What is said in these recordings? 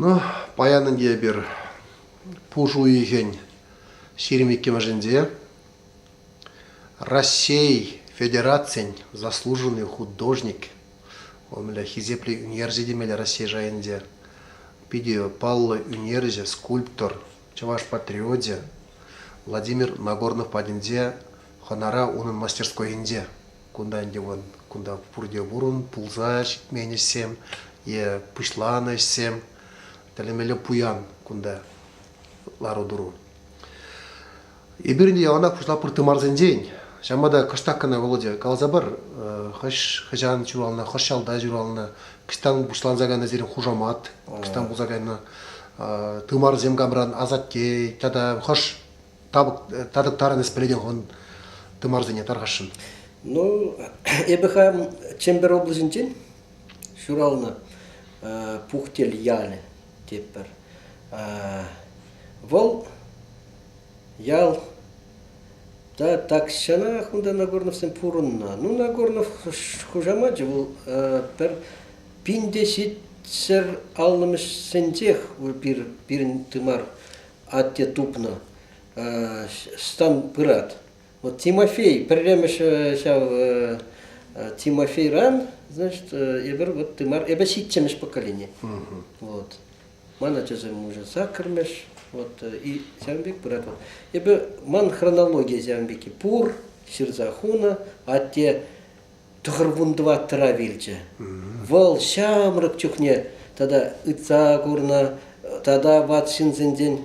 Ну, паян ӗнтӗ эпир пушӑ уйӑхӗн ҫирӗм иккӗмӗшӗнче Раҫҫей Федерацин заслуженный художник, вӑл мӗнле хисеплӗ ӳнерҫӗ темелле Раҫҫей шайӗнче, питӗ паллӑ ӳнерҫӗ, скульптор, чӑваш патриочӗ Владимир Нагорнов патӗнче хӑнара унӑн мастерскойӗнче. Кунта ӗнтӗ вӑн кунта пурте пурӑн, пулса ҫитмен ӗҫсем е пуҫланӑ ӗҫсем, тӗлӗмелле пуян кунта лару-тӑру. Эпир ӗнтӗ яланах пуҫла пыртымарсенчен, ҫавӑнпа та кӑштах кӑна Володя каласа пар, хӑш хӑҫан ҫуралнӑ, хӑш ялта ҫуралнӑ, кӑҫтан пуҫланса кайнӑ сирӗн хушамат, кӑҫтан пулса кайнӑ тымарсем камран, асатте тата хӑш Табак татӑктарӑнӑс пӗлетӗн хӑвӑн тымарсене тархасшӑн. Ну, эпӗ хам Чемпер облаҫӗнчен ҫуралнӑ Пухтел ялӗ тетпӗр. Вӑл ял та тахҫанах унта Нагорновсем пурӑннӑ. Ну, Нагорнов хушамачӗ вӑл пӗр пин те ҫитсӗр аллӑмӗшсенчех пирӗн тымар Атте тупнӑ. Стан пырать. Вот Тимофей, пӗрремӗш ҫав Тимофейран, значит, эпир вот тымар, эпӗ ҫиччӗмӗш поколени. Вот. Ман ачасем уже саккӑрмӗш, вот, и ҫавӑн пек пырать. Вот. Эпӗ, ман хронология ҫавӑн пек, пур ҫырса хунӑ, атте тӑхӑрвун тӑваттӑра вилчӗ. Вӑл ҫамрӑк чухне тата ытса курнӑ тата ват ҫынсенчен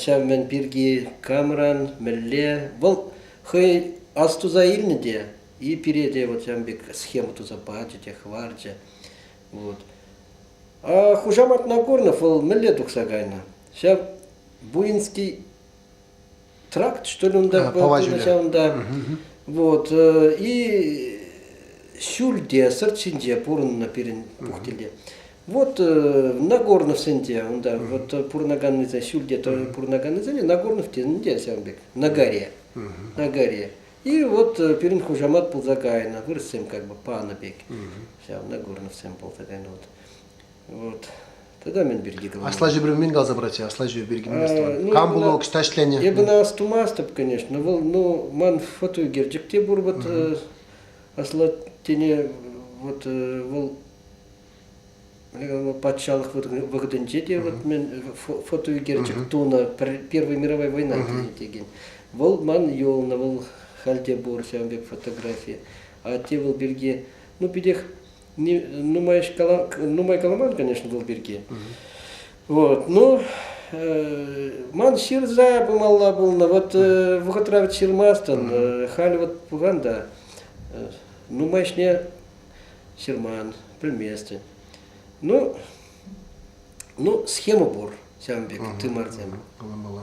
ҫав мӗн пирки камран мӗнле вӑл хӑй ас туса илнӗ те и пире те вот ҫавӑн пек схема туса пачӗ те хӑварчӗ. Вот. А хушаматна Корнов вӑл мӗнле тухса кайнӑ? Ҫав Буинский тракт, что ли, он так был поначалу, да. Вот. И ҫӳлте, сырт ҫинче пурӑннӑ пирӗн пухтеле. Вот Нагорнов сенде, унда вот пурнаганныйса ҫӳлте пурнаганныйсене Нагорнов тенде сәмбек, на горе, на горе. И вот пирӗн хушамат пулса кайнӑ, вырӑссем как бы панӑ пек. Ҫав Нагорновсем пулса кайнӑ вот. Вот. Тата мӗн пирки каланӑ? Асла ҫӗпрен мӗн каласа паратчӗ? Асла ҫӗпӗ пирки мӗн астӑван? Кам пулу ӑҫта ӗҫленӗ? Эпӗ астумастӑп, конечно. Вӑл, ну, ман фотоӳкерчӗк те пур вот асла тене вот вӑл патшалӑх вӑхӑтӗнче те вот мен фотоӳкерчӗк тунӑ Первая мировая война текен. Вӑл ман юлнӑ, вӑл халь те пур ҫавӑн пек фотографи. А те вӑл пирки, ну, питех нумай, нумай каламан, конечно, вӑл пирки. Вот, ну, ман ҫырса пымалла пулнӑ, вот вӑхӑтра вӗт ҫырмастӑн, халь вот пухан та, нумай ӗҫне ҫырман, пӗлместӗн. Ну, ну, схема пур ҫавӑн пек тымарсем. Каламалла.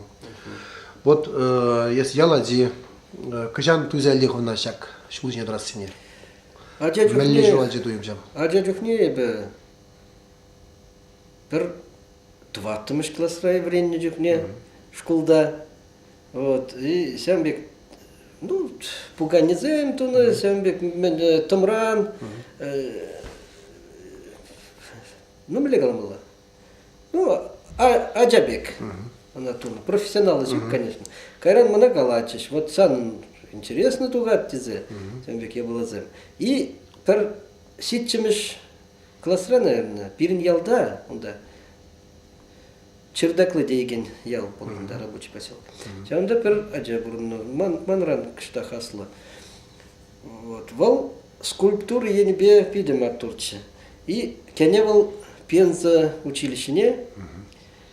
Вот, если яла ди, кӑҫан туйса хывна ҫак ҫул ҫине тӑрассине? Ача чухне... Мӗнле ҫуралчӗ туйӑмҫам? Ача чухне эпӗ пӗр тӑваттӑмӗш класра вӗреннӗ чухне шкулта вот, и ҫавӑн пек ну, пуканесем тунӑ, ҫавӑн пек тӑмран, ну, мӗнле каламалла? Ну, ача пек она тунӑ. Профессионалочка, конечно. Кайран мана калатчӗҫ, вот сан интересно тухать тесе, тем пек япаласем. И пӗр ҫиччӗмӗш класра, наверное, пирӗн ялта, унта Чердаклы деген ял болғанда рабочий поселок. Ҫавында пір ача бұрынны ман манран кішті хасылы Вот. Вӑл скульптура енӗпе питӗ маттурччӗ. И кӗне вӑл Пенза училищине,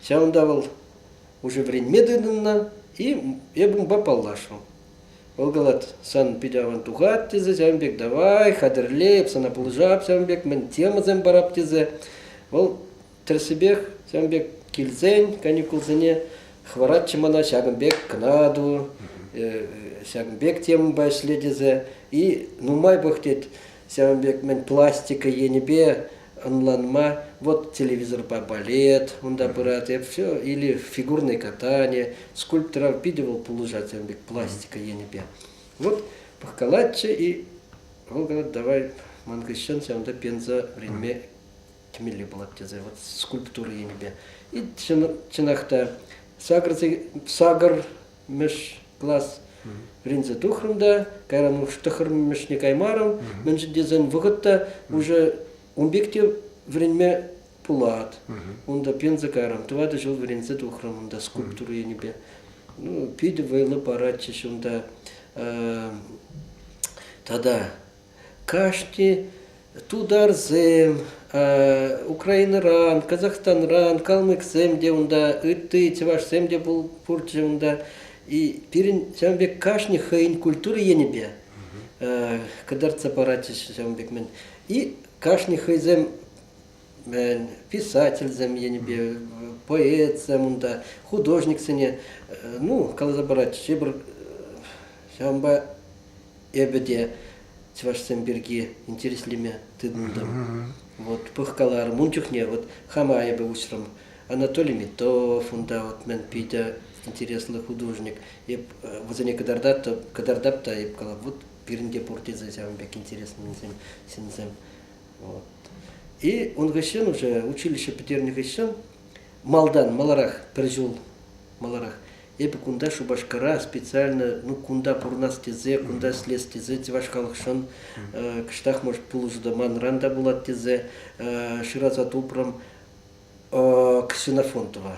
ҫавӑнта вӑл уже вӗренме тытӑннӑ, и эп унпа паллашрӑм. Вӑл калать, сан питӗ аван тухать тесе ҫавӑн пек, давай, хатӗрлеп, сана пулӑшап ҫавӑн пек, мӗн темӑсем парап тесе. Вӑл Тӗрӗсипех ҫавӑн пек килсен каникулсене хӑваратчӗ мана ҫакӑн пек кӑнату, ҫакӑн пек темӑпа ӗҫле тесе. И нумай пӑх тет ҫавӑн пек мӗн пластика енӗпе ӑнланма. Вот телевизорпа балет унта пырать, эп все. Или фигурное катание, скульпторов питӗ вӑл пулӑшать ҫавӑн пек пластика енӗпе. Вот пӑхкалатчӗ и вӑл говорит, давай ман хыҫҫӑн ҫавӑнта пенса вӗренме кӗмелли пулать тесе вот скульптура енӗпе. И чӑнах та сакӑр мӗш класс вӗренсе тухрӑм та кайран уж тӑхӑрмӗшне каймарӑм мӗншӗн тесен вӑхӑтта уже ун пек те вӗренме пулать унта пенсия кайрӑм тӑватӑ ҫул вӗренсе тухрӑм унта скульптура енӗпе ну, питӗ вӑйлӑ паратчӗҫ унта тата Кашни тутарсем Украинӑран, Казахстанран калмӑксем те унта, ытти чӑвашсем те пурччӗ унта. И пирӗн ҫавӑн пек кашни хӑйӗн культура енӗпе кӑтартса паратчӗҫ ҫавӑн пек мӗн. И кашни хӑйсем писательсем енӗпе, поэтсем унта, художниксене, ну, каласа паратчӗҫ. Эпир ҫавӑнпа эпӗ те чӑвашсем пирки интереслеме тытӑнтӑм. Вот пӑхкаларӑм ун чухне вот хама эпӗ уҫрӑм Анатолий Метов унта вот мӗн питӗ интереслӗ художник эп вӗсене кӑтартап кӑтартап та эп калап вот пирӗнте пур тесе ҫавӑн пек интересленсем ҫынсем вот и он хыҫҫӑн уже училище пӗтернӗ хыҫҫӑн малтан маларах пӗр ҫул маларах Эпӗ кунта Шупашкара специально ну кунта пурӑнас тесе, кунта ӗҫлес тесе чӑваш халӑхшӑн кӑштах может пулӑшу та манран та пулать тесе шыраса тупрӑм Ксенофонтова.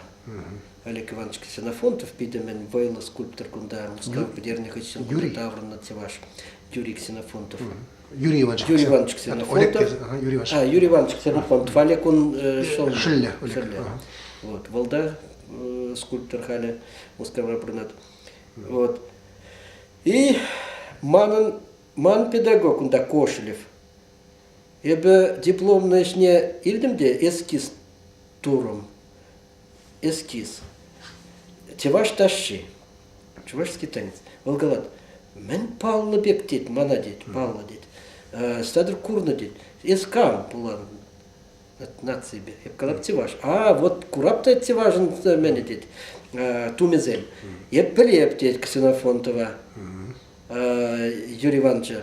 Олег Иванович Ксенофонтов питӗ мӗн вӑйлӑ скульптор кунта Мускав вӗтернӗ хыҫҫӑн таврӑннӑ чӑваш Юрий Ксенофонтов. Юрий Иванович. Юрий Иванович Ксенов. Олег Юрий Иванович. А, Юрий Иванович Ксенов, он Двалекун шел. Шелле. Шелле. Вот. Валда скульптор халӗ Мускавра пурӑнать. Вот. И манӑн ман педагог унта Кошелев. Эпӗ дипломный ӗҫне илтӗм те эскиз турӑм. эскиз. Чӑваш ташши, чувашский танец. Вӑл калать, мӗн паллӑ пек тет, мана тет, паллӑ тет, стадр курнӑ тет, эс кам пулан от наципе, я калап чуваш. А вот курап та чувашын мене тет, тумезем. Эп пӗлеп тет Ксенофонтова Юрий Ивановича.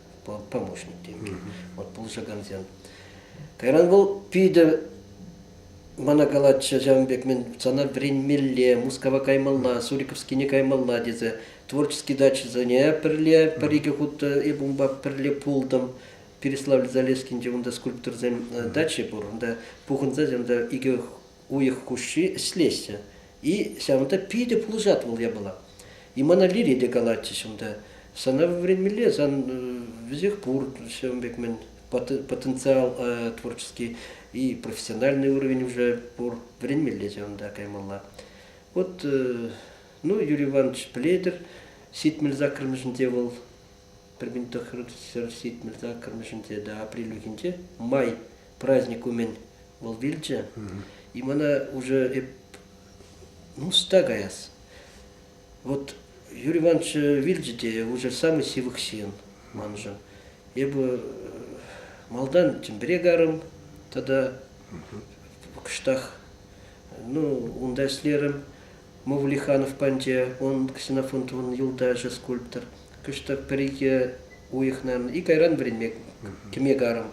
помощник тенкӗ. Вот пулӑшакансем. Кайран вӑл питӗ мана калатчӗ, ҫавӑн пек мен сана вӗренмелле, Мускава каймалла, Суриковскине каймалла тесе. Творческий дачӑсене пӗрле пӗр-икӗ хут э, эп унпа пӗрле пултӑм. Переславль Залескинче унта скульпторсем э, дачи пур. Унта пухӑнса икӗ уйӑх хушши ӗҫлеҫҫӗ. И ҫавӑнта питӗ пулӑшать вӑл япала. И мана Лири те калатчӗҫ унта. Сана вӗренмелле, сан вӗсех пур ҫавӑн пек мӗн потенциал творческий и профессиональный уровень уже пур. Вӗренмелле ҫавӑнта каймалла. Вот, ну, Юрий Иванович пӗлетӗр, ҫитмӗл саккӑрмӗшӗнче вӑл Пӗр пин тӑххӑр ҫитмӗлте кӑрмӑшӗнче те апрельлӗхӗнче май праздник умӗн вӑл вилчӗ. И мана уже эп ӑста каяс. Вот Юрий Иванович вилчӗ те уже самый сивых ҫын маншӑн. Эпӗ малтан Чӗмпӗре карӑм тата кӑштах ну унта ӗҫлерӗм. Мовлиханов панчӗ, ун Ксенофонтовӑн юлташӗ скульптор. Кӑштах пӗр-икӗ уйӑхна икӗ кайран вӗренме кӗме карӑм.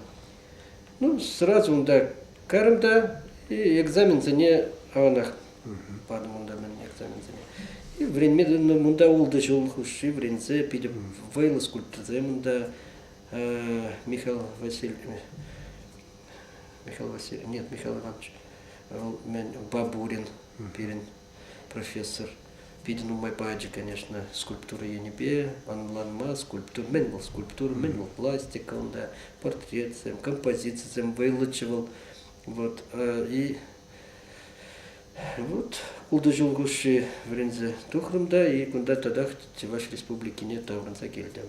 Ну, сразу унта кайрӑм та экзаменсене аванах патӑм унта мӗн экзаменсене. И вӗренме тытӑнтӑм. Унта ултӑ ҫул хушши вӗренсе питӗ вӑйлӑ скульпторсем унта Михаил Васильевич Михаил Васильевич, нет, Михаил Иванович, вӑл мӗн, Бабурин Пирӗн профессор питӗ нумай пачӗ, конечно, скульптура енӗпе ӑнланма. Скульптура мӗн вӑл скульптура, мӗн вӑл пластика унта, портретсем, композицисем вӑйлӑччӗ вӑл. Вот и вот ултӑ ҫул хушши вӗренсе тухрӑм та и кунта татах Чӑваш Республикине таврӑнса килтӗм.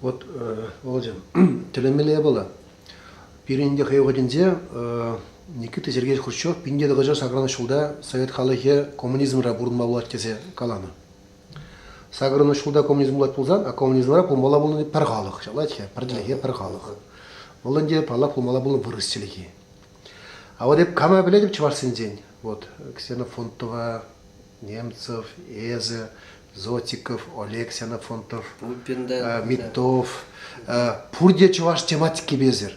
Вот, Володя, тӗлӗнмелле япала. Пирӗн те хӑй вӑхӑтӗнче Никита Сергеевич Хрущев пинне тӑкӑча сакран ҫулта совет халӑхӗ коммунизмра пурӑнма пулать тесе каланӑ. Сакӑрӑн ҫулта коммунизм пулать пулсан, а коммунизмра пулмалла пулни пӗр халӑх, ҫалать-ха, пӗр чӗлхе, пӗр халӑх. Вӑл ӗнтӗ паллах пулмалла пулнӑ вырӑс чӗлхи. А вот эп кама пӗлетӗп чӑвашсенчен? Вот Ксена Фонтова, Немцев, эсӗ, Зотиков, Олег Сенафонтов, Митов, пурте чӑваш тематикипесӗр.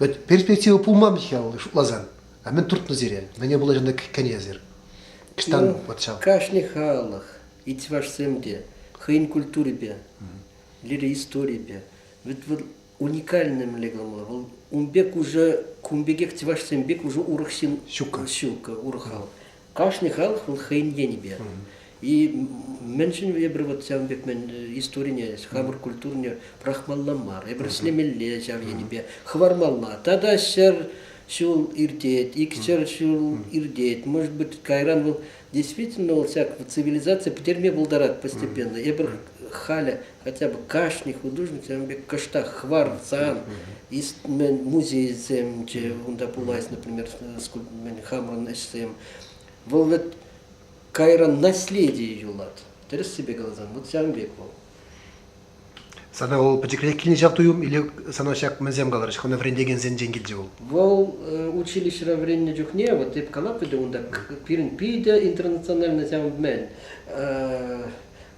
Вӗт перспектива пулман-ҫке шутласан. А мен туртнӑ сире. Мӗне пулаҫанта кӗнесӗр. Кштан вот ҫав. Кашни халӑх, и чӑвашсем те хӑйӗн культурипе, лири-историйӗпе. Вӗт вӑл уникальный мӗнле кӑмӑл. Вӑл ун пек уже, кун пекех чӑвашсем пек уже урӑх ҫын. Ҫукка. Ҫукка, урӑх хал. Кашни халӑх вӑл хӑйӗн енӗпе. И мӗншӗн эпир вот ҫавӑн пек мӗн историне, хамӑр культурине пӑрахмалла мар, эпир ӗҫлемелле ҫав енӗпе, хӑвармалла. Тата ҫӗр ҫул иртет, икҫӗр ҫул иртет. Может быть, кайран вӑл действительно вӑл ҫак цивилизацие пӗтерме пултарать постепенно. Эпир халӗ Хотя бы кашни художникӑн пек кӑштах хӑварсан, музейсем те унта пулать, например, скульптурмен хамӑрӑн ӗҫсем. Вӑл вӗт кайран наследие юлать. Тӗрӗссипе каласан, вот ҫавӑн пек вӑл. Сана вӑл пӗчӗкрех килнӗ ҫав туйӑм или сана ҫак мӗнсем каларӗҫ, хӑна вӗрентекенсенчен килчӗ вӑл? Вӑл училищӗра вӗреннӗ чухне вот эп калатпӑр те унта пирӗн питӗ интернациональна ҫавӑн мӗн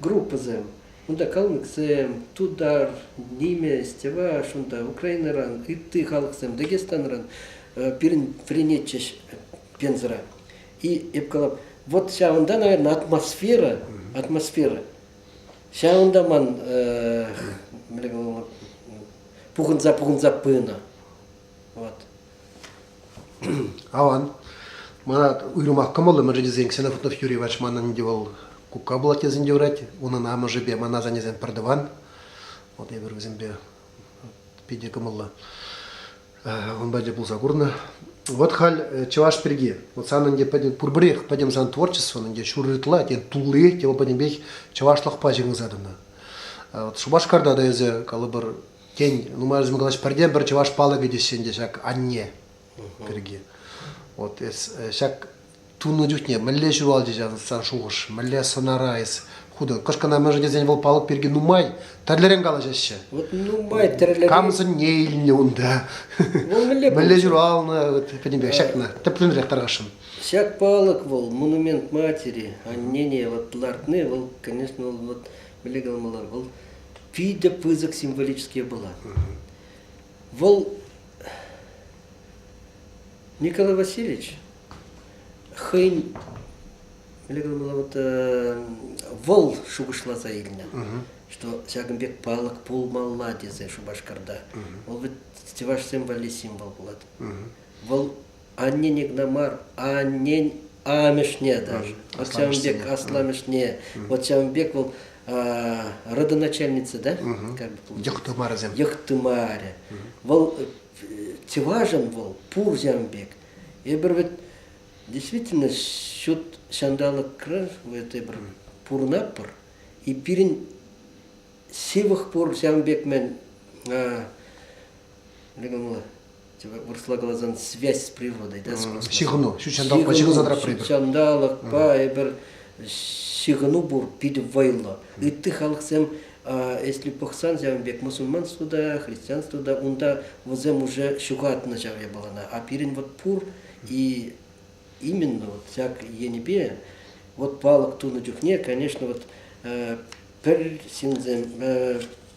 группӑсем Унта калмӑксем, тутар, нимӗҫ, чӑваш, унта Украинӑран, ытти халӑхсем Дагестанран пирӗн вӗренетчӗҫ Пензӑра. И эп калап, вот ҫавӑнта, наверное, атмосфера, атмосфера. Ҫавӑнта ман пухӑнса пухӑнса пынӑ. Вот. Аван. Мана уйрӑмах кӑмӑллӑ мӗншӗн тесен Ксенофонтов Юрий Вач манӑн те вӑл кукка пулать тесен те юрать. Унӑн амӑшӗпе ман асаннесем пӗр тӑван. Вот эпир вӗсемпе питӗ кӑмӑллӑ ун патне пулса курнӑ. Вот халь э, чӑваш пирки. Вот санӑн те пӗтӗм пурпӗрех пӗтӗм сан творчествӑн те ҫур ытла те тулли те вӑл пӗтӗмпех чӑвашлӑхпа ҫыхӑнса тӑнӑ. Вот Шупашкарта та эсӗ калӑпӑр Тен, нумай калаҫ пӗртен-пӗр чӑваш палӑкӗ теҫҫӗ ӗнтӗ ҫак анне пирки. Вот эс ҫак тунӑ чухне мӗнле ҫуралчӗ ҫав сан шухӑш, мӗнле сӑнара эс хутӑн. Кӑшкӑна мӗншӗн тесен вӑл палӑк пирки нумай тӗрлӗрен калаҫаҫҫӗ. Вот нумай тӗрлӗрен. Кам сӑнне илнӗ унта? Вӑл мӗнле Мӗнле ҫуралнӑ, вот пӗтӗмпех ҫакна тӗплӗнрех тархасшӑн. Ҫак палӑк вӑл, монумент матери, аннене вот лартни, вӑл, конечно, вот мӗнле каламаллар, вӑл питӗ пысӑк символический была. Вӑл Николай Васильевич хӑйӗн вот вӑл шухӑшласа илнӗ, что ҫакӑн пек палӑк пулмалла тесе Шупашкарта. Вӑл вӗт чӑваш символли символ пулать. Вӑл Аннен игна мар, аннен амӑшне даже. Вот ҫавӑн пек асламӑшне. Вот ҫавӑн пек вӑл родоначальница, да? Йӑхтымарӗсем. Йӑхтымарӗ. Вӑл чӑвашӑн вӑл пур ҫавӑн пек. Эпир вот действительно ҫут ҫанталӑкра этой бір пурӑнап пыр. И пирӗн сывах пур ҫавӑн пек мен вырӑсла каласан связь с природой, да, с космосом. Ҫыхӑну, ҫутҫанталӑкпа ҫыхӑнса тӑратпӑр эпир. Ҫутҫанталӑкпа эпир ҫыхӑну пур питӗ вӑйлӑ. Ытти халӑхсем, если пӑхсан ҫавӑн пек мусульман студа, христиан студа, унта вӗсем уже ҫухатнӑ ҫав япалана, а пирӗн вот пур и именно вот ҫак енӗпе вот палӑк тунӑ чухне, конечно, вот пӗр ҫынсем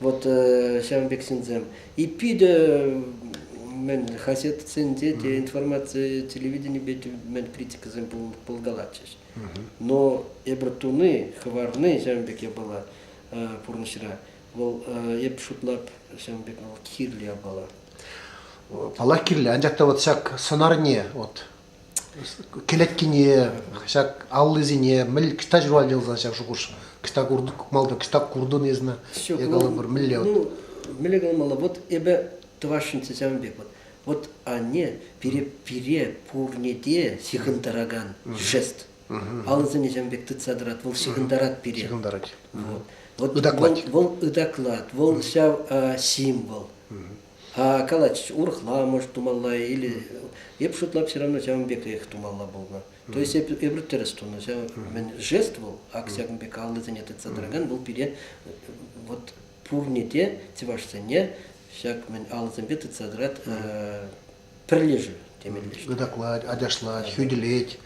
Вот ҫавӑн пек ҫынсем. И питӗ мӗн хаҫатсенче те информаци телевиденипе те мӗн критикӑсем пулкалатчӗҫ. Но эпир туни, хӑварни ҫавӑн пек япала пурнӑҫра. Вӑл эп шутлап ҫавӑн пек вӑл кирлӗ япала. Паллах кирлӗ, анчах та вот ҫак сӑнарне вот кӗлеткине ҫак аллисене мӗн кӑҫта ҫуралнӑ ялсан ҫав шухӑш кӑҫта куртӑн кукмалта кӑҫта куртӑн эсна я калӑпӑр мӗнле вот ну мӗнле каламалла вот эпӗ тӑвасшӑнччӗ ҫавӑн пек вот вот анне пире пире пурне те ҫыхӑнтаракан жест алӑсене ҫавӑн пек тытса тӑрать вӑл ҫыхӑнтарать пире ҫыхӑнтарать вот вот ытаклать вӑл ытаклать вӑл ҫав символ А калатчӗҫ, урӑхламӑш тумалла, или эп шутлап все равно ҫавӑн пекрех тумалла пулнӑ. То есть эп, эпир тӗрӗс тунӑ. Ҫав мӗн жест вӑл, ак ҫакӑн пек аллисене тытса тӑракан вӑл пире вот пурне те, чӑвашсене ҫак мӗн алӑсемпе тытса тӑрать пӗрлешӳ темелле. Ытаклать, ачашлать, хӳтӗлет.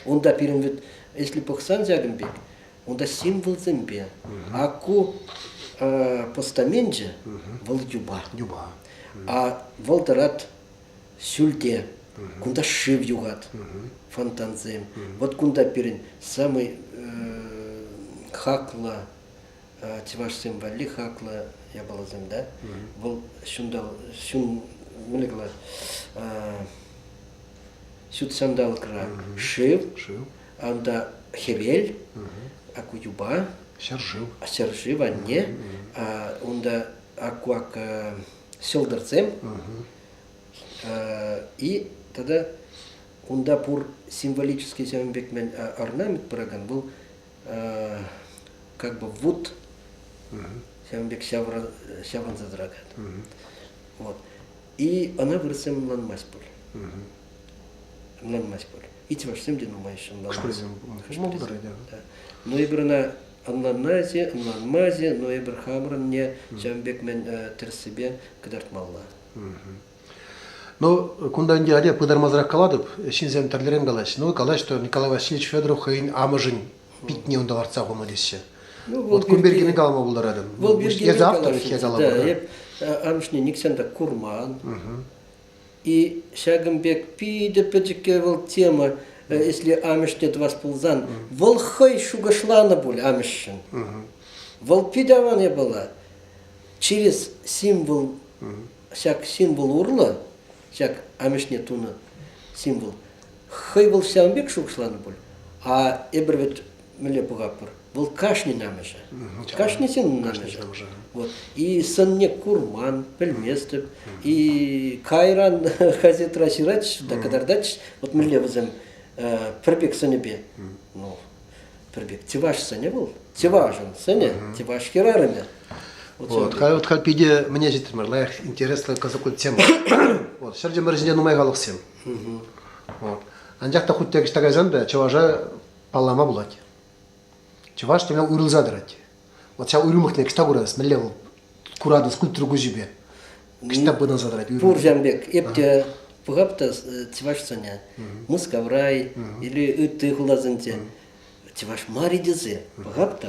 Унта пирӗн вӗт, если пӑхсан ҫакӑн пек, Утассимволсемпе Аку постаменчӗ вӑл юпа. Юпа. А вӑл тӑрат сюльте. Кунта шыв юхать, фонтансем. Вот кунта пирӗн самый хаклӑ чӑвашсем валли хаклӑ япаласем да. Вӑл ҫунта ҫун ҫут ҫанталӑкра шыв, Анда хӗвел, аку юпа, ҫӗршыв, ҫӗршыв анне, унта акуак ҫӑлтӑрсем и тата унта пур символический ҫавӑн пек мен орнамент пыракан был как бы вуд ҫавӑн пек ҫаврӑнса тӑракан вот И ӑна вырӑссем ӑнланмасть пуль. Ӑнланмасть пуль. Итимашсем те нумайӑшӗ ӑнланмасть. Шкулсем пулмаҫҫӗ. Но эпир ӑна ӑнланмасть, ӑнланмасть, но эпир хамӑрӑнне ҫавӑн пек мӗн тӗрӗссипе кӑтартмалла. Ну, кунта ӗнтӗ атя пытармасӑрах калатӑп, ҫынсем тӗрлӗрен калаҫҫӗ. Ну, калаҫ, что Николай Васильевич Федоров хӑйӗн амӑшӗн питне унта лартса пыма теҫҫӗ. Ну, вот кун пирки калама пултаратӑн. Вӑл пирки Эс Да, эп амӑшне никсен та курман. И ҫакӑн пек питӗ пӗчӗкке вӑл тема, если амӑшне тӑвас пулсан, вӑл хӑй шухӑшланӑ пуль амӑшшӑн. Вӑл питӗ аван япала. Через символ, ҫак символ урлӑ ҫак амӑшне тунӑ символ. Хӑй вӑл ҫавӑн пек шухӑшланӑ пуль, а эпир вӗт мӗнле пӑхатпӑр? Вӑл кашнин амӑшӗ. Кашнисен амӑшӗ. Вот. И сӑнне курман, пӗлместӗп. И кайран газетра ҫыратчӗҫ та кӑтартатчӗҫ. Вот мӗнле вӗсем пӗр пек сӑнӗпе. Ну, пӗр пек. Тиваш сӑнӗ вӑл. Тивашӑн сӑнӗ. Тиваш хӗрарӑмӗ. Вот, хай, вот халь питӗ мне ҫитрӗмӗр лайӑх интереслӗ кӑсӑклӑ тема. Вот, ҫӗр чӑмӑр ҫинче нумай халӑхсем. Вот. Анчах та хуть те ӑҫта кайсан та чӑваша паллама пулать. Чӑваш тӗлне уйрӑлса тӑрать. Вот ҫав уйрӑмлӑхне кӑҫта курас, мӗнле вӑл куратӑн скульптура куҫӗпе. Кӑҫта пытанса тӑрать уйрӑм. Пуржан пек, эп те пӑхап та чӑвашсене, Мускаврай или ытти хуласенче чӑваш марри тесе пӑхап та,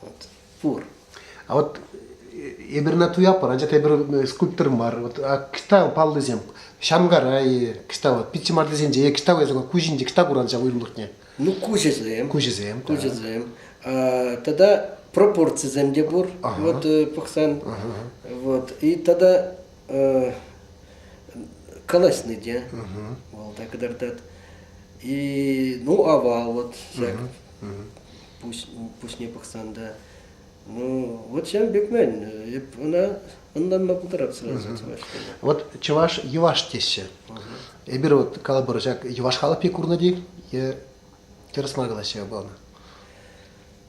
Вот. Пур. А вот эпир на туяппӑр, анчах эпир э, скульптор мар. Вот, а кита паллисем Шамгарай, кита вот Питчимартисенче, кита весен куҫинче кита куранча уйлӑхне. Ну куҫӗсем. Куҫӗсем. Куҫӗсем. Тада пропорцисем те пур. Вот э, пӑхсан. Вот и тада колосны те. Вол так и И ну ава вот всяк пуҫ, пуҫне пӑхсан та ну, вот ҫавӑн пек мель. Эп ӑна ӑнланма пултарап сразу чӑваш Вот чӑваш йӑваш теҫҫӗ. Эпир вот калӑпӑр ҫак йӑваш халӑх пек курнӑ е терӗс мар калаҫҫӗ ӑна?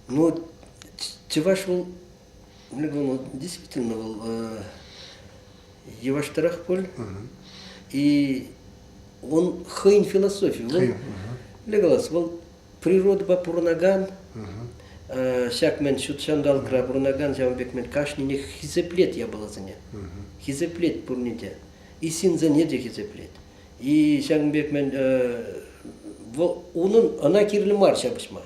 Ну, чӑваш вӑл, вӑл действительно вӑл э, йӑваштарах пуль. И он хӑйӗн философии. Вӑл, для калас, вӑл природӑпа пурӑнакан, ҫак мӗн ҫут ҫанталӑкра пурӑнакан ҫавӑн пек мӗн кашнинех хисеплет япаласене. Хисеплет пурне те. И ҫынсене те хисеплет. И ҫакӑн пек мӗн вӑл унӑн ӑна кирлӗ мар ҫапӑҫма.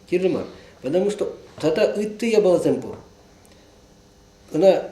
Кирлӗ мар. Потому что тата ытти япаласем пур. Ӑна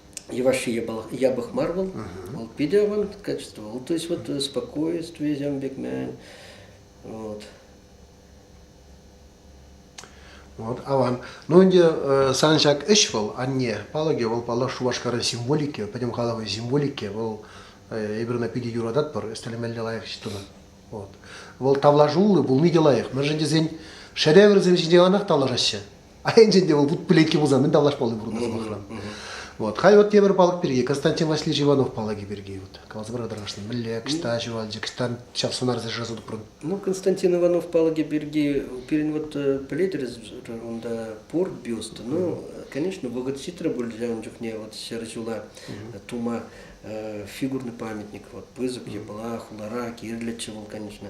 Йӑвашши япӑх мар вӑл, вӑл питӗ авант качество вӑл, то есть вот спокойствие Зям Бекмен, вот. Вот аван. Ну ӗнтӗ сан ҫак ӗҫ вӑл, анне палӑкӗ, вӑл паллах Шупашкарӑн символики, пӗтӗм халӑхӑн символики, вӑл эпир ӑна питӗ юрататпӑр, ӗстелемелле лайӑх ӗҫ тунӑ. Вот. Вӑл тавлашуллӑ пулни те лайӑх. Мӗншӗн тесен шедеврсем ҫинчен анах тавлашаҫҫӗ. Айӑнчен те вӑл вутпыленкке пулсан мӗн тавлашмалли пур ӑна сӑмахран. Вот. Хай вот тепӗр палӑк пирки, Константин Васильевич Иванов палӑкӗ пирки вот каласа парса тӑрӑшнӑ. Мӗнле, кӑҫта ҫуралчӗ, кӑҫтан час сунарсем шыраса тупрӑн. Ну, Константин Иванов палӑкӗ пирки пирӗн вот пӗлетӗр унта пур бюст. Ну, конечно, благочеститря пулчӗ ун чухне вот ҫӗр ҫула тума фигурный памятник, вот пысӑк, епла, хулара кирлӗччӗ вӑл, конечно.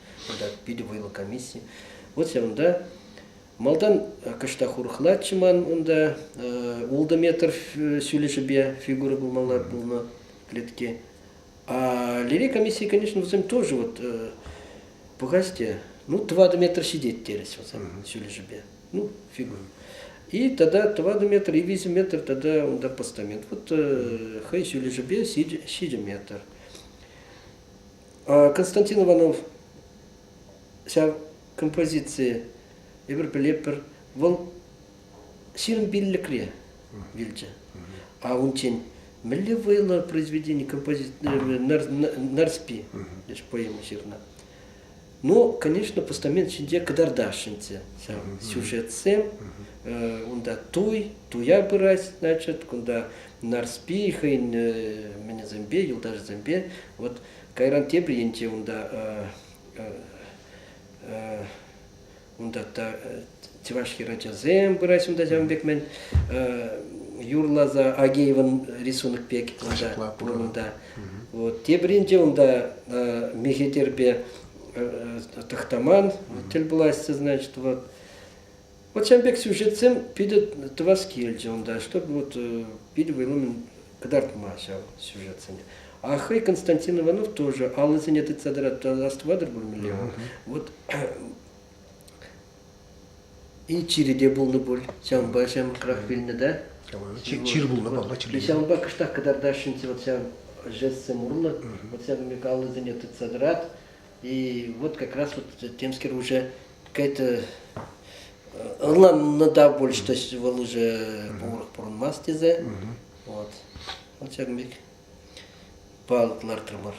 кунта питӗ вӑйлӑ комисси. Вот ҫавӑнта Малтан кӑштах урӑхлаччӗ ман унта ултӑ метр ҫӳлӗшӗпе фигура пулмалла пулнӑ клетке. А Лери комиссии, конечно, вӗсем тоже вот пӑхасте, ну тӑватӑ метр ҫитет терӗҫ вӗсем ҫӳлӗшӗпе, ну фигура. И тогда тӑватӑ метр и виҫӗ метр тогда унта постамент. Вот хӑй ҫӳлӗшӗпе ҫичӗ метр. Константин Иванов ҫав композицие эпир пӗлетпӗр, вӑл ҫирӗм пиллӗкре вилчӗ. А унччен мӗнле вӑйлӑ произведени композиторӗ Нарспи поэма ҫырнӑ. Но, конечно, постамент ҫинче кӑтартасшӑнччӗ ҫав сюжетсем. Унта туй, туя пырать, значит, кунта Нарспи хӑйӗн мӗнӗсемпе, юлташӗсемпе. Вот кайран тепӗр енче унта Унта та чӑваш хӗрачасем пырать унта ҫавӑн пек-мӗн. Юрласа Агеевӑн рисунок пек унта пур унта. Вот тепринче унта мехетерпе тахтаман тӗл пулаҫҫӗ, значит, вот. Вот ҫавӑн пек сюжетсем питӗ тӑвас килчӗ унта, чтобы вот питӗ вӑйлӑмӑн кӑтартма ҫав сюжетсене. А хӑй Константин Иванов тоже аллисене тытса тӑрать, астӑватӑр пулмелле. Вот и чире те пулнӑ пуль, ҫавӑнпа ҫамрӑкрах вилнӗ да. Чир пулнӑ папа чирле. Ҫавӑнпа кӑштах кӑтартасшӑнччӗ вот ҫав жестсем урлӑ, вот ҫавӑн пек аллисене тытса тӑрать, И вот как раз вот темский уже какая-то ӑрланнӑ та пуль, что вӑл уже пурах пурӑнмас тесе. Вот. Он ҫакӑн пек палӑк лартрӑмӑр.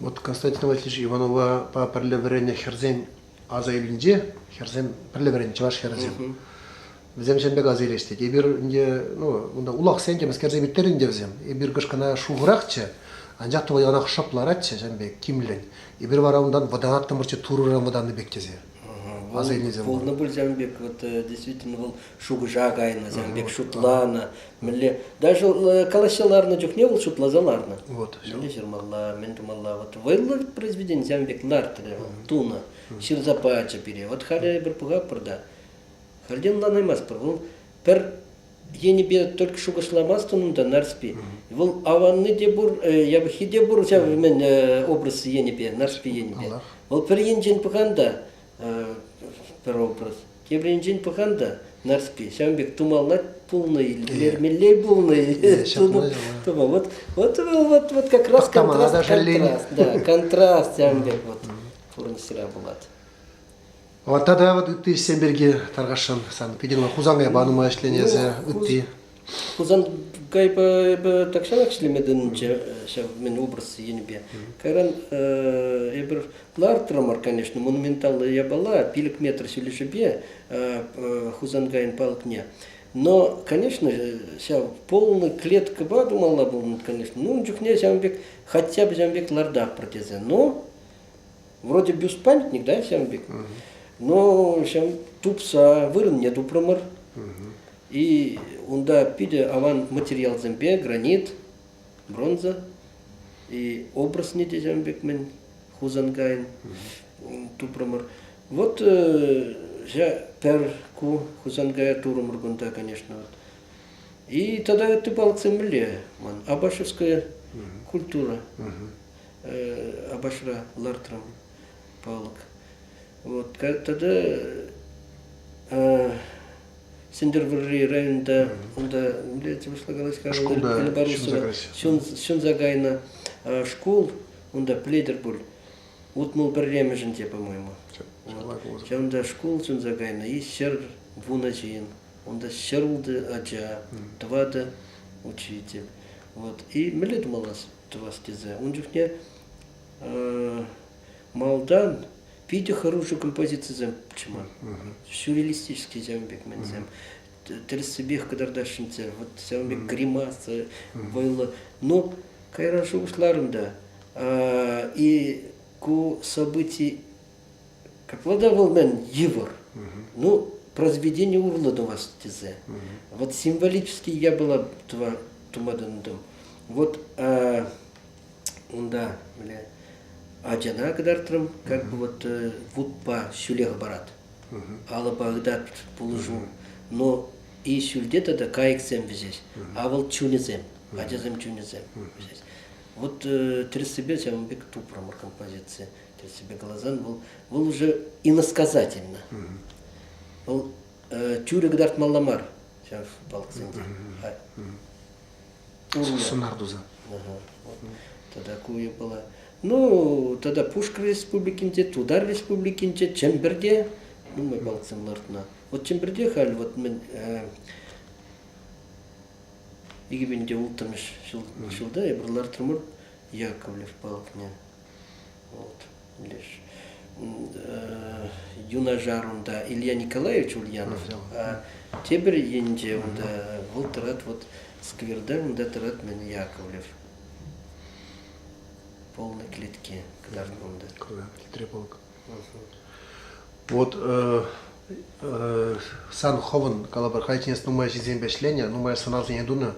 Вот Константин Васильевич Иванова пӗрле вӗреннӗ хӗрсен Аса илнинче хӗрсем, пӗрле вӗреннӗ чӑваш хӗрӗсем. Вӗсем ҫын пек аса илеҫҫӗ. тет. Эпир ӗнтӗ, ну, унта улахсен темӗскерсе пӗттерӗ ӗнтӗ вӗсем. Эпир кӑшкӑна шухӑрахчӗ, анчах та вӑл яланах шӑп ларатчӗ ҫын пек, тимлӗн. Эпир вара унтан вӑтанаттӑмӑрччӗ Турӑран вӑтаннӑ пек тесе. Аса илнисем. Пулнӑ пуль ҫавӑн пек, вот действительно вӑл шухӑша кайнӑсем пек шутланӑ. Мӗнле, даже э, калаҫса ларнӑ чухне вӑл шутласа ларнӑ. Вот, мӗнле ҫырмалла, мӗн тумалла. Вот вӑйлӑ произведенисем пек нартрӗ тунӑ. Ҫырса пачӗ пире. Вот халӗ эпир пӑхаппӑр та, халӗ ӑнланаймастпӑр. Вӑл пӗр енӗпе только шухӑшламастӑн унта Нарспи. Вӑл аванни те пур, э, явӑххи те пур ҫав мӗн э, образ енӗпе, Нарспи енӗпе. Вӑл пӗр енчен пӑхан та Пӗр образ. Тепринчен пӑхан та Нарспи ҫавӑн пек тумалла пулнӑ-и, илтермелле пулнӑ-и? Тумал. Вот вот вот вот как раз контраст, да, контраст ҫавӑн пек вот пурнӑҫра пулать. Вот тата вот ытти ӗҫсем пирки тархасшӑн. Сан питӗ Хусанкай банума ӗҫленӗ эсӗ, ытти. Хусан кайпа эпӗ тахҫанах ӗҫлеме тытӑнчӗ ҫав мӗн образ енӗпе. Кайран эпир лартрӑмӑр, конечно, монументаллӑ япала, пилӗк метр ҫӳлӗшӗпе Хусанкайӑн палӑкне. Но, конечно, ҫав полная клеткӑпа тумалла пулнӑ, конечно. Ну, ун чухне ҫавӑн пек, хотя бы ҫавӑн пек лардахпӑр тесе. Но, вроде бюстпамятник, да, ҫавӑн пек. Но ҫавӑн тупса вырӑнне тупрӑмӑр. И унта питӗ аван материалсемпе гранит, бронза и обрасни тесем пек-мӗн Хусанкайӑн тупрӑмӑр. Вот ҫа пӗр ку Хусанкая турӑмӑр кунта, конечно. Вот. И тогда ты балксем мӗнле ман абашевская культура Абашра лартрӑм палӑк. Вот тата Сӗнтӗрвӑрри районта унта милици пуҫлакалась Белоруссова ҫунса кайнӑ шкул унта пӗлетӗр пуль утмӑл пӗрремӗшӗн те по-моему. Ҫавӑнта шкул ҫунса кайнӑ и ҫӗр вунӑ ҫын унта ҫӗрултӑ ача тӑватӑ учитель вот и мӗнле тумалла тӑвас тесе ун чухне Малтан питӗ хӑрушӑ композицисем пулчӗ ман. Сюрреалистический ҫавӑн пек мӗнсем тӗрӗссипех кӑтартасшӑнччӗ. Вот ҫавӑн пек гримаса, вӑйлӑ. Ну, кайран шухӑшларӑм та. И ку событий, как владавал мен йывӑр. Ну, произведение урлӑ тумас тесе. Вот символически я была тума тунтым. Вот Унта мӗнле ачана кӑтартрӑм, как бы вот вутпа ҫӳле хӑпарат, алӑпа ытат пулӑшу. Но и ҫӳлте тата кайӑксем вӗҫӗҫ, а вӑл чунӗсем, ачасем чунӗсем вӗҫӗҫ. Вот тӗрӗссипе ҫавӑн пек тупрӑмӑр композици. Тӗрӗссипе каласан вӑл вӑл уже иносказательно. Вӑл тӳрӗ кӑтартмалла мар ҫав палӑксенче. сунар туса. Тата ку япала. Ну, тата Пушкӑр Республикинче, Тутар Республикинче, Чӗмпӗрте нумай балксем лартнӑ. Вот Чӗмпӗрте халь вот мӗн икӗ миңде улттӑмӗш ҫулда эпир лартрӑмӑр Яковлев палкине. Вот лишь юнашар унта Илья Николаевич Ульянов, а теперь инде унда вӑл тӑрать вот скверда, унда тӑрать мен Яковлев. Полные клетки кӑларнӑ унда. Кӑларнӑ клетре полк. Вот сан хӑвӑн, калӑпӑр, кайченес нумай ҫынсемпе ӗҫленӗ, нумай сӑнарсене тунӑ.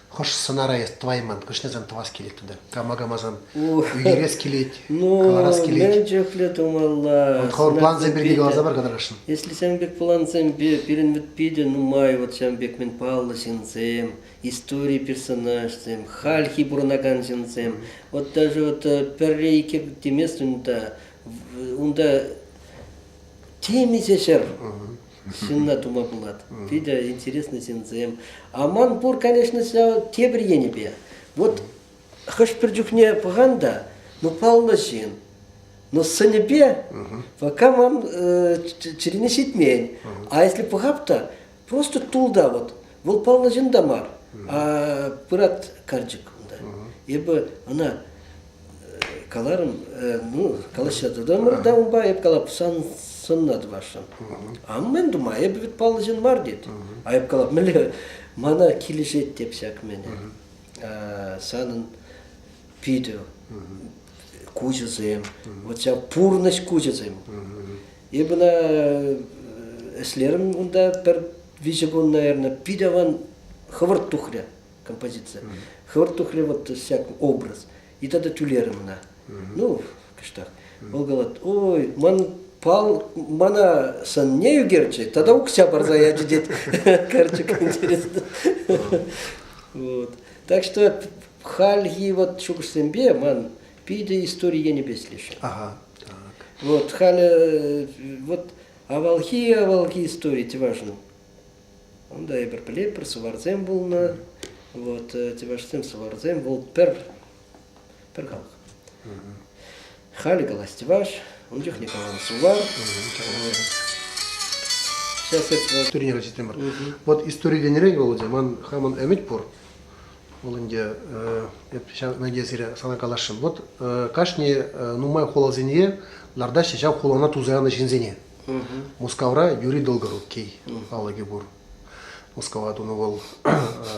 Хӑш сӑнара эс тӑвайман, хӑшне сан тӑвас килет тата? Кама камасан ӳкерес килет, ну, каларас килет. Ну, мӗн чухлӗ тумалла. Хӑвӑр плансем пирки каласа пар кӑтарасшӑн. Если сан пек плансемпе, пирӗн вӗт питӗ нумай вот ҫан пек мӗн паллӑ ҫынсем, истори персонажсем, хальхи пурӑнакан ҫынсем. Вот даже вот пӗрре икӗ теместӗн унта унта темиҫе ҫӗр ҫынна тума пулать. Питӗ интересный ҫынсем. А ман пур, конечно, ҫав тепӗр енӗпе. Вот хӑш-пӗр чухне пӑхан та, ну паллӑ ҫын, но сӑнӗпе пока мам чӗрене ҫитмен. А если пӑхап та, просто тул та вот. Вӑл паллӑ ҫын та мар, а пырат карчӑк унта. Эпӗ ӑна каларӑм, ну, калаҫса тӑтӑмӑр та унпа эп калап сан сӑнна тӑвасшӑн. А мен тума эпӗ вӗт паллӑ ҫын мар тет. А эп калап мӗнле мана килӗшет теп ҫак мене. Санӑн питӗ куҫӗсем, вот ҫав пурнӑҫ куҫӗсем. Эпӗ ӑна ӗҫлерӗм унта пӗр виҫӗ кун, наверное, питӗ аван хӑвӑрт тухрӗ композиция. Хӑвӑрт тухрӗ вот всяк образ. И тогда тӳлерӗм ӑна. Ну, кӑштах. Вӑл калать, ой, ман пал мана сын не ӳкерчи, тогда укся парса ячӗ, тет Карчик. Вот. Так что Хальхи вот шухӑшсемпе ман питӗ истори енӗпе килӗшет. Ага, так. Вот халӗ вот авалхи-авалхи истори те важно. Унда эпир пӗлетпӗр, суварсем пулнӑ. Вот тевашсем суварсем вӑл пӗр пӗр халӑх. Халӗ каласть ваш, ун чухне калал сувар. Сейчас это вот... История тенӗре Володя, ман хамӑн ӗмӗт пур. Вӑл ӗнтӗ, эп ҫавна те сире сана каласшӑн. Вот кашни нумай хуласене лартаҫҫӗ ҫав хулана туса янӑ ҫынсене. Мускавра Юрий Долгорукий палӑкӗ пур. Мускава тунӑ вӑл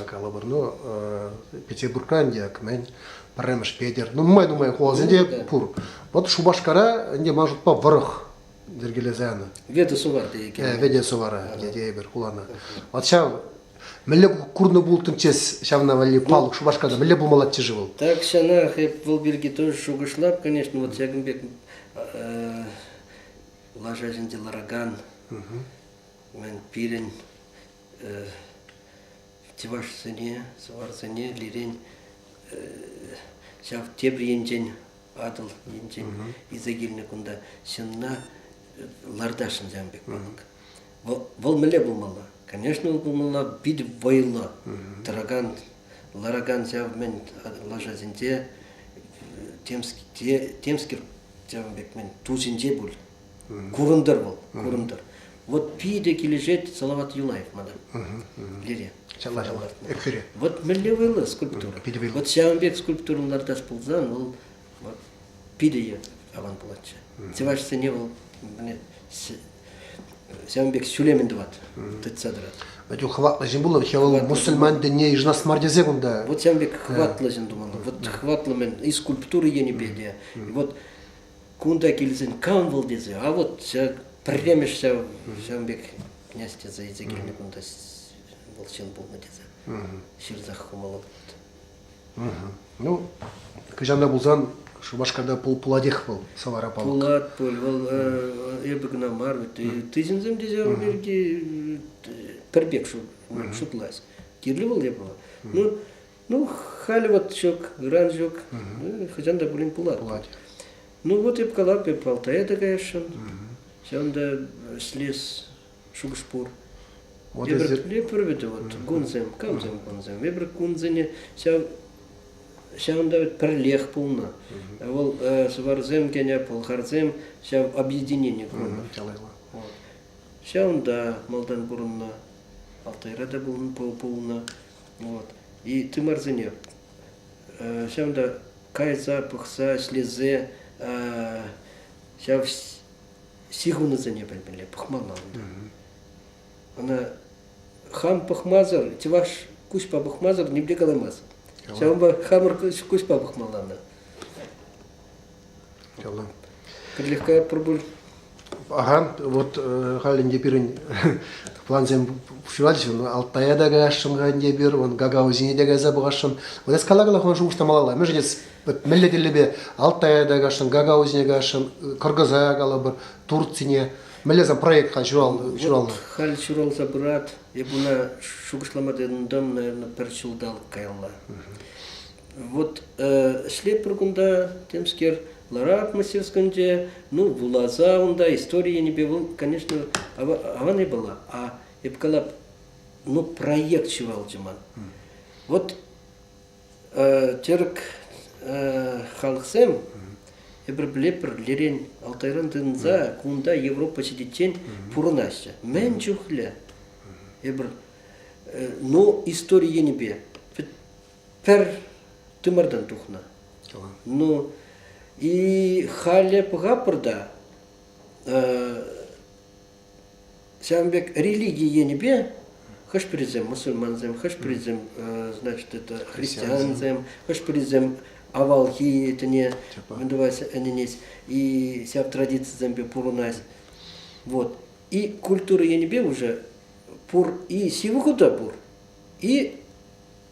калӑпӑрну Петербургра ӗнтӗ кӗмен, пӗрремӗш Петер, нумай-нумай хуласенче пур. Вот Шупашкара ӗнтӗ ман шутпа вӑрӑх йӗркелесе янӑ. Вете сувар тейекен. Вете сувара тейӗпӗр хулана. Вот ҫав Мӗнле курнӑ пултӑмччес ҫавна валли палук Шупашкарта мӗнле пулмаллаччӗ-ши вӑл? Тахҫанах эп вӑл пирки тоже шухӑшлап, конечно, вот ҫакӑн пек лаша ҫинче ларакан пирӗн чӑвашсене, сӑварсене лирен ҫав тепӗр енчен Атӑл енчен илсе килнӗ кунта ҫынна лартасшӑн ҫавӑн пек палӑк. Вӑл мӗнле пулмалла? Конечно, вӑл пулмалла пит вӑйлӑ тӑракан, ларакан ҫав мӗн лашасенче темскер ҫавӑн пек мӗн тусенче пуль. Курӑнтӑр вӑл, курӑнтӑр. Вот питӗ килӗшет Салават Юлаев мана. Лере. Чалла чалла. Экфире. Вот мӗнле вӑйлӑ скульптура. Вот ҫавӑн пек скульптурӑн лартас пулсан, вӑл Вот питӗ те аван пулатчӗ. Чӑвашсене вӑл ҫавӑн пек ҫӳлемен тӑвать, тытса тӑрать. Вадюк хӑватлӑ ҫын пулнӑ, вӗт вӑл мусульман тӗнне йышӑнас мар тесе кунта. Вот ҫавӑн пек хӑватлӑ ҫын тумалла. Вот хӑватлӑ мӗн и скульптура енӗпе те. Вот кунта килсен кам вӑл тесе, а вот ҫак пӗрремӗш ҫав ҫавӑн пек князь тесе илсе килнӗ кунта вӑл ҫын пулнӑ тесе ҫырсах хумалла. Ну, кӑҫалта пулсан Шупашкарта пул, пулатех вӑл Савара палӑк. Пулат пуль, вӑл эпӗ кӑна мар, вӗт тысӗнсем тесе пирки пӗр пек шутлать. Кирлӗ вӑл япала. Ну, ну халӗ вот ҫук, грант ҫук, хӑҫан та пулин пулать. Пулать. Ну вот эп калап, эп Алтая та каясшӑн. Ҫавӑнта слез шухӑш пур. Вот эти... Эпир пӗрвӗтӗ вот кунсем, камсем кунсем. Эпир кунсене ҫав ҫавӑнта пӗрлех пулнӑ. Вӑл сӑварсем кене пӑлхарсем ҫав объединение курнӑ. Ҫавӑнта малтан курӑннӑ, Алтайра та пулнӑ. Вот. И тымарсене ҫавӑнта кайса пӑхса ӗҫлесе ҫав ҫыхӑнусене пӗлмелле, пӑхмалла унта. Ӑна хам пӑхмасӑр, чӑваш куҫпа пӑхмасӑр нимле каламасть. Ҫавӑнпа хамӑр куҫпа пӑхмалла ӑна. Ялан. Кӗрлехка пурпур. Ахан, вот халь ӗнтӗ пирӗн плансем пуҫлатчӗ. Алтая та каясшӑн ӗнтӗ эпир, вон гагаузине те кайса пӑхасшӑн. Вот эс калакала хӑна шухӑшта малалла. Мӗншӗн эс мӗнле тӗллепе Алтая та каҫрӑм, Гагаузине каҫрӑм, Кыргызая калӑпӑр, Турцине мӗнле сан проект хан ҫуралнӑ? Вот халь ҫуралса пырат. Эп уна шухӑшлама тытӑнтӑм, наверное, пӗр ҫулталӑк каялла. Вот ӗҫлеппӗр кунта, темскер, ларап мастерскинче, ну, вуласа унта истории енӗпе вӑл, конечно, аван япала. А эп калап, ну, проект ҫывалчӗ ман. Вот Тӗрӗк халӑхсем эпир пӗлетпӗр лирен Алтайран тытӑнса кунта Европа ҫитиччен пурӑнаҫҫӗ. Мӗн чухлӗ эпир ну истори енӗпе пӗр тымартан тухнӑ. Ну и халӗ пӑхапӑр та Ҫавӑн пек религи енӗпе хӑш-пӗрисем мусульмансем, хӑш-пӗрисем, значит, это христиансем, хӑш-пӗрисем авалхи тӗне мӗнтӑвать ӗненет и ҫав традицисемпе пурӑнать. Вот. И культура енӗпе уже пур и ҫывӑху та пур, и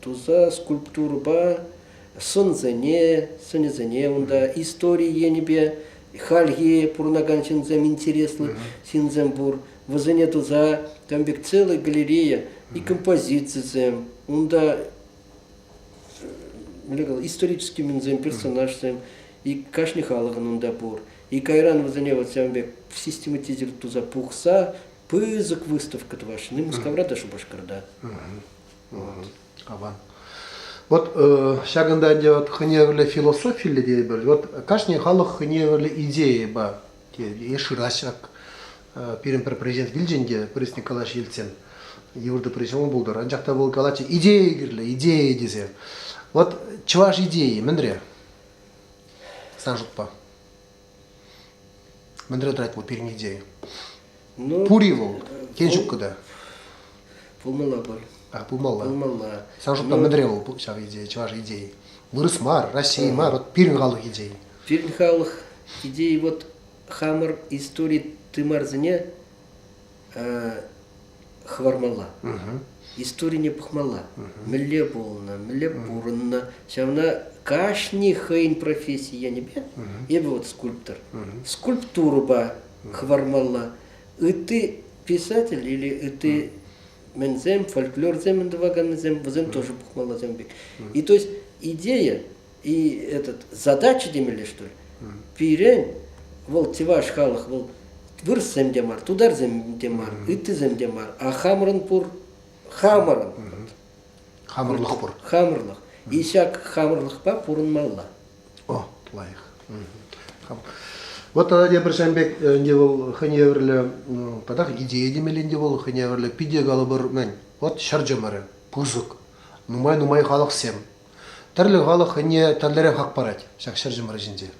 Туса скульптурӑпа сӑнсене, сӑнӗсене унта истори енӗпе хальхи пурӑнакан ҫынсем интереслӗ ҫынсем пур. Вӗсене туса там пек целый галерея и композицисем, унта исторический ҫынсем, персонажсем и кашни халӑхӑн унта пур. И кайран вӗсене вот ҫавӑн пек систематизировать туса пухса пысӑк выставка тӑваҫҫӗ. Мускавра та Шупашкарта. Аван. Вот э, ҫакӑнта ӗнтӗ вот хӑневӗрлӗ философиллӗ тетӗпӗр. Вот кашни халӑх хӑневӗрлӗ идейӑпа йышӑраҫҫак э, пирӗн пӗр президент килчӗ те президент калаҫ Ельцин йывӑртӑ президент пултӑр. Анчах та вӑл калатчӗ идея кирлӗ, идея тесе. Вот чӑваш идейи мӗнре? Сан шутпа? Мӗнре тӑрать вӑл пирӗн идея? Ну, Пур-и вӑл? Тен, ҫук кӑта? Пулмалла пуль. А, пулмалла. Пулмалла. Сан шутпа ну, мӗнре вӑл ҫав идея, чӑваш идеи? Вырӑс мар, Россия мар, вот пирӗн халӑх идеи. Пирӗн халӑх идеи вот хамӑр истори тымарсене хӑвармалла. Историне пӑхмалла. Мӗнле пулнӑ, мӗнле пурӑннӑ. Ҫавна кашни хӑйӗн професси енӗпе эпӗ вот скульптор. Скульптурӑпа хӑвармалла. Ытти писатель или ытти мӗнсем, фольклорсем тӑваканнисем, вӗсем тоже пӑхмалла ҫавӑн пек. И то есть идея И этот, задача темелле, что ли? Пирен, вӑл чӑваш халӑх, вӑл вырӑссем те мар, тутарсем те мар, ыттисем те мар, а хамӑрӑн пур, хамӑрӑн. Хамӑрлӑх пур. Хамӑрлӑх. И ҫак хамӑрлӑхпа пурӑнмалла. О, лайӑх. Вот тогда те пӗрсемпек ӗнтӗ вӑл хӑйне евӗрлӗ татах идея темелле ӗнтӗ вӑл хӑйне евӗрлӗ питӗ калӑпӑр мӗн вот ҫӗр чӑмӑрӗ пысӑк нумай-нумай халӑхсем Тӗрлӗ халӑх хӑйне тӗрлӗрех хак парать ҫак ҫӗр чӑмӑрӗ ҫинче.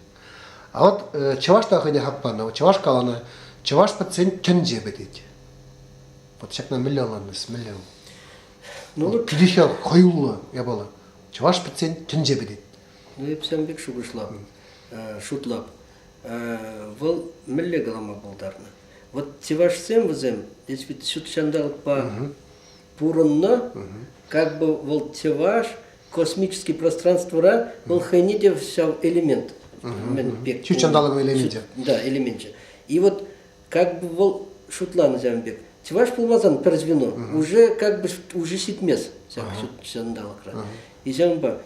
А вот чӑваш та хӑйне хак панӑ, чӑваш каланӑ, чӑваш пӗтсен тӗнче пӗтет. Вот ҫакна мӗнле ӑнланнӑс, мӗнле вӑл? Ну, питӗхе хӑюллӑ япала. Чӑваш пӗтсен тӗнче пӗтет. Ну, эпсем пек шухӑшлап, шутлап. Вӑл мӗнле калама пултарнӑ? Вот чӑвашсем вӗсем, если вут ҫут ҫанталӑкпа пурӑннӑ, как бы вӑл чӑваш космический пространствӑра вӑл хӑйне те ҫав элемент. пек. Ҫут ҫанталӑкӑн элеменчӗ. Да, элеменчӗ. И вот как бы вӑл шутланӑ ҫавӑн пек. Чӑваш пулмасан пӗр звено уже как бы уже ҫитмест ҫак ҫут ҫанталӑкра. И ҫавӑнпа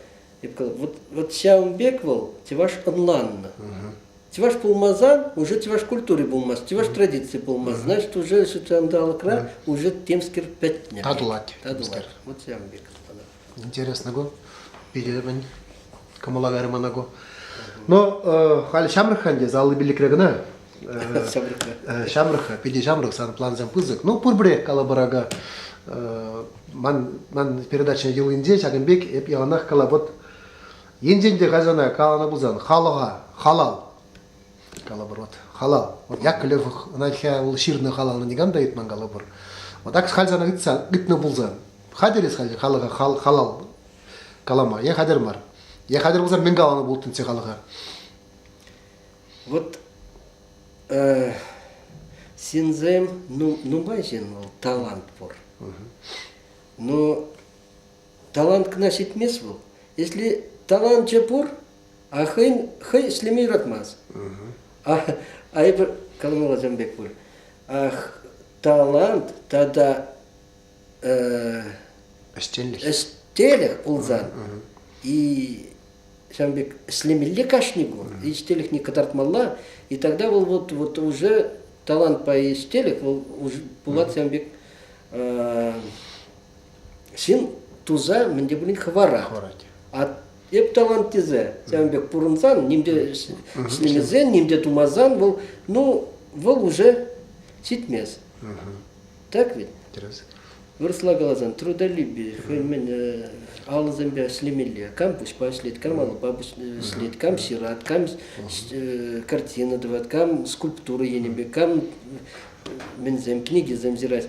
вот вот ҫавӑн пек вӑл чӑваш ӑнланнӑ. Чӑваш пулмасан уже чӑваш культури пулмасть, чӑваш традици пулмасть. Значит, уже ҫутҫанталӑкра уже темскер пӗтнӗ. Татӑлать. Татӑлать. Вот ҫавӑн пек. Интересно, го. Перебӗн кӑмӑлаверӗ мана го. Но халь ҫамрӑк те заллы биллекре кӑна. Ҫамрӑк, питӗ ҫамрӑк, сан плансем пысӑк. Ну, пурпӗрех калабӑрака. Ман, ман передача йӑлинче ҫакӑн пек эп яланах калап вот Енчен те хазана каланӑ пулсан, халӑха халал, калӑпӑр вот, халал, вот як Лев ӑна ул ҫырнӑ халалнӑ никам та ыйтман калӑпӑр. Вот так халь сана ыйтса ыйтнӑ пулсан, хатӗр эс халь халӑха хал, халал калама, е хатӗр мар, е хатӗр пулсан мӗн каланӑ пултӑн халӑха? Вот э, синзем, ну, ну, бачен, талант пур. Но Талант кӑна ҫитмест вӑл. Если таланчӗ пур, а хӑйӗн хӑй ӗҫлеме юратмасть. А, а эпир Колмол ачам пек пуль. Ах, талант тата ӗҫтенлӗх ӗҫтелӗх пулсан и ҫавӑн пек ӗҫлемелле кашни кун и ӗҫтелӗхне кӑтартмалла и тогда вӑл вот вот уже талантпа ӗҫтелӗх вӑл уже пулать ҫавӑн пек ҫын туса мӗн те пулин хӑварать. хӑварать. А эп тӑван тесе ҫавӑн пек пурӑнсан, ним те ӗҫлемесен, ним те тумасан, вӑл, ну, вӑл уже ҫитмест. Так ведь? Интересно. Вырӑсла каласан трудолюбие, хӑйӗн мӗн алӑсемпе ӗҫлемелле. Кам пуҫпа ӗҫлет, кам алӑпа ӗҫлет, кам ҫырать, кам картина тӑвать, кам скульптура енӗпе, кам мӗнсем, книгисем ҫырать.